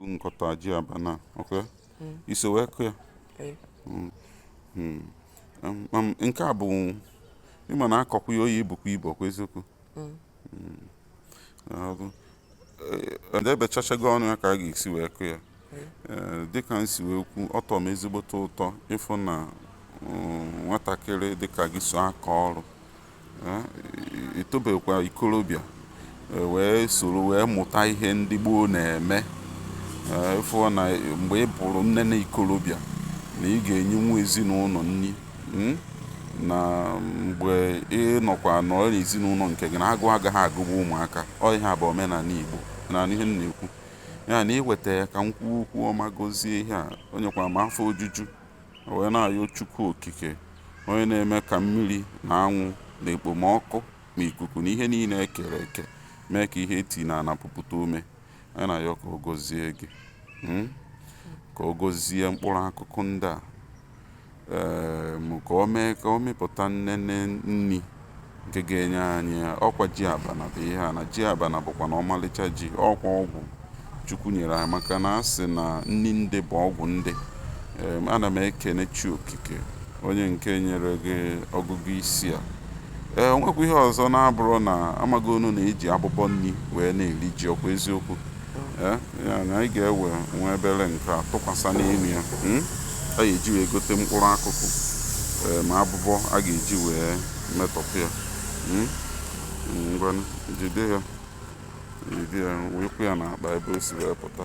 nkọta ji abana ok hmm. iso wee kụ ya hmm. Hmm. Um, um, nke a bụ ịma na akọkwa ya ọ ya-ebukwa ibu ọkwa eziokwu edebechachago eh, ọnụ ya ka a ga-esi wee kụ ya eh, dịka m si wee kwu ọ tọ m ezigbote ụtọ ịfụ na um, nwatakịrị dịka gị so aka ọrụ etobekwa ikorobịa wee soro wee mụta ihe ndị gboo na-eme ịfụ na mgbe ị bụrụ nnene ikorobịa na ị ga-enyenwu ezinụlọ nri hmm? na mgbe ị nọkwa nọrọ n'ezinụlọ nke gị na agụ agaghị agụgbu ụmụaka ọ ihe a bụ omenala igbo na ihe m na-ekwu ya na iweta ya ka m kwuo okwu ọma gozie ihe a o nyekwara m afọ ojuju wee na-ayọ Chukwu Okike onye na-eme ka mmiri na anwụ na ekpomọkụ na ikuku na ihe niile ekere eke mee ka ihe eti n'ana pupụta ome anyị na-ayọ ka o gozie gị hmm? ka o gozie mkpụrụ akụkụ ndị a ka o mee ka ọ mịpụta nnene nri nke ga-enye anyị ya ọkwa ji abana bụ ihe a na ji abana bụkwanụ ọmalịcha ji ọkwa ọgwụ chukwu nyere anyị maka na a sị na nri ndị bụ ọgwụ ndị ana m ekene chi okike onye nke nyere gị ọgụgụ isi a o nwekwa ihe ọzọ na-abụrụ na amaghị unu na eji abụbọ nri wee na-eri ji ọkwa eziokwu Eh, ya na anyị ga-ewe nwa obere nke a tụkwasị n'elu ya hmm? a ga-eji wee gote mkpụrụ akụkụ eh, ma abụbọ a ga-eji wee metọpụ ya hmm? Hmm, ngwa jide ya jide ya wee kwụ ya n'akpa ebe o si wee pụta